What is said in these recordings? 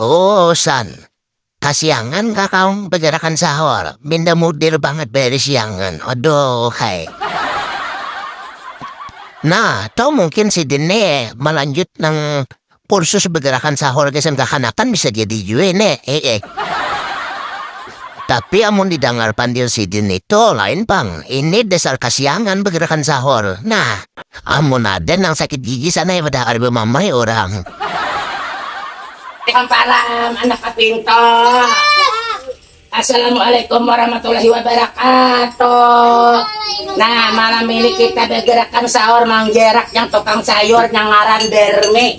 Uusan, kasiangan kah kaum bajarakan sahur, minda mudir bangat bairi siangan, aduuhhai. Nah, atau mungkin sidin ne malanjut nang kursus bajarakan sahur gasan kakanakan bisa jadi jua ne, heeh. Tapi amun didangar pandil sidin itu lain pang, ini dasar kasiangan bajarakan sahur, nah. Amun ada nang sakit gigi sana ya pada kada bamamai urang. Hamparan anak kaping to. Assalamualaikum warahmatullahi wabarakatuh. Nah, malam ini kita bagerakan sahur mang Jerak yang tukang sayur yang ngaran Bermi.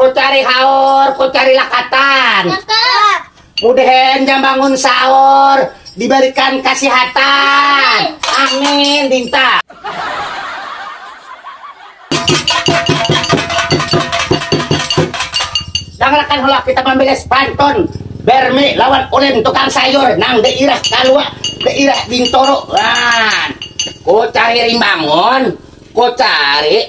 Ku cari haur, ku cari lakatan. Cakep. Mudehen jam bangun sahur, diberikan kasihatan. Amin, Dinta. Dangarakan hula kita mambilis pantun Bermi lawan Ulin tukang sayur nang dairah Kalua, dairah Bintoro. Wan. Ku cari rimbangun, ku cari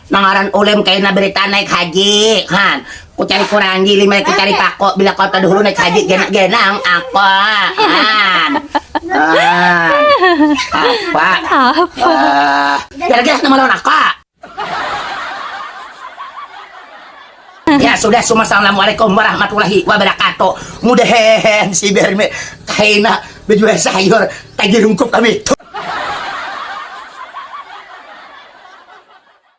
Nang ngaran ulem kaina berita naik haji han ku cari kurangi lima ku cari pako bila kota dahulu naik haji genak genang apa han apa apa gara gara nama lawan aku Ya sudah semua assalamualaikum warahmatullahi wabarakatuh. Mudah hehe si berme kaina bejual sayur tagih rungkup kami.